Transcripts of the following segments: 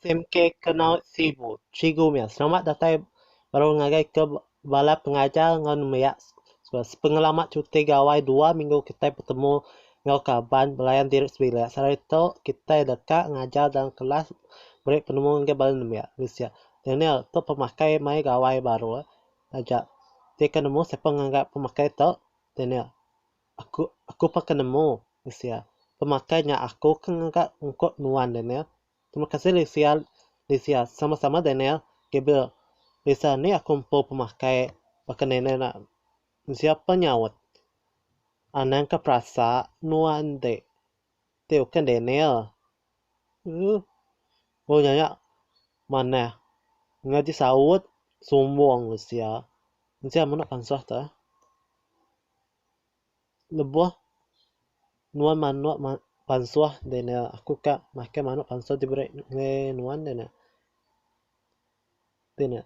SMK Kenau Sibu. Cikgu meh selamat datai baru ngagai ke bala pengajar enggau nembiak sepengelama cuti gawai dua minggu kitai betemu enggau kaban belayan diri sebilik. Sehari tu kitai deka ngajar dalam kelas meri penemu ngagai bala nembiak. Daniel, tu pemakai mai gawai baru eh. Taja, ti ke nemu siapa nganggap pemakai tu, Daniel. Aku, aku peka nemu, Lisia. Pemakai nya aku ke ngaga ungkup nuan, Daniel. Terima kasih, Lisia, Lisia. Sama-sama, Daniel, Gabriel. Lisa, ni aku empu pemakai, baka nenek enda mensia pe nyaut. Anang ke perasa nuan enti. Ti uken Daniel. Ugh. Ulu nya nya manah ngaji saut sumbung usia. Usia mene pansah te. Lebuh nuan manok ma pansah Daniel aku ka makai manok pansah ti bere nge nuan de ne. Ti ne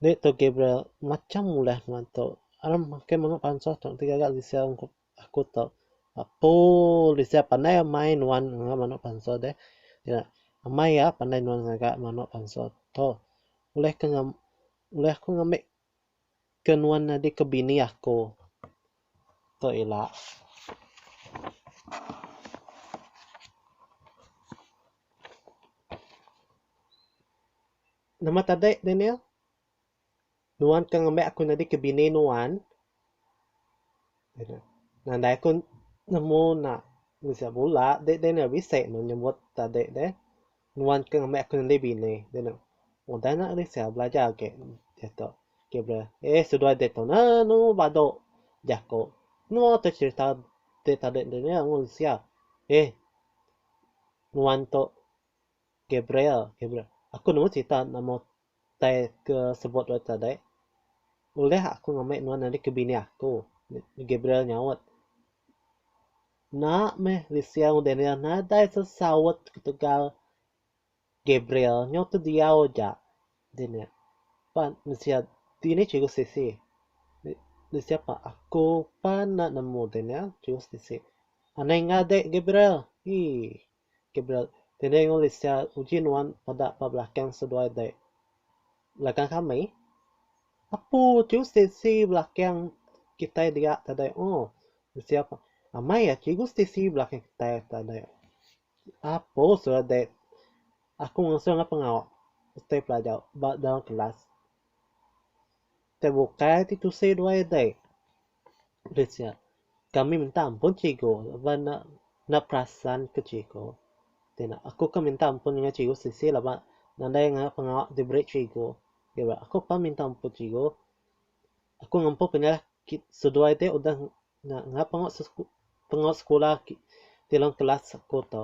Ni tu Gabriel macam ulah nuan tu. Aram makai manok pansah tu ti gaga usia ungkup. Aku tau apuh lisia pandai amai nuan ngaga manok bansa deh. Nya amai ya pandai nuan ngaga manok bansa tu. Uleh ke ngam uleh aku ngambek ke nuan nyadi ke bini aku. Tu ila. Nama tadi Daniel? Nuan ke ngembai aku nyadi ke bini nuan, nadai aku nemu nak ngejah bula deh deh nya bisi meh nyebut ade deh, nuan ke ngembai aku nyadi bini deh nya, udah nya Alexa belajar agi diatu Gabriel, eh seduai diatu anu badu jaku nua tu cherita deh tadi deh nya ngun sia, eh nuan tu Gabriel, Gabriel, aku nemu cherita nama Utai ke sebut dulu tadi, ulih aku ngambi nuan nyadi ke bini aku? Gabriel nyaut. Enda meh bisi mung Daniel nadai sesaut ketegal Gabriel. Nyau tediau aja Daniel. Pan bisi dini chegou siti. Bisi apa aku pan enda nemu Daniel chegou siti. Anai enggau dek Gabriel. Hii. Gabriel, Tine enggau Lisia uji nuan peda ba belakang seduai dek. Belakang kami? Apu ti Stacey belakang kitai dia tadi o. Lisia, Amai ya cikgu Stacey belakang kitai tadi. Apu surat dek. Aku ngasuh enggau pengawa utai pelajar ba dalam kelas. Te bukai ti tusi dua ide. Ulih sia. Kami minta ampun cikgu laban enda enda perasan ke cikgu. Ti enda aku ke minta ampun nengah cikgu sisi laban nadai ngena pengawa diberi cikgu. Iya bala aku pan minta ampun cikgu. Aku ngempu penyalah kit seduai te udah Ngak pengawa pengawa sekula ti dalam kelas aku tu.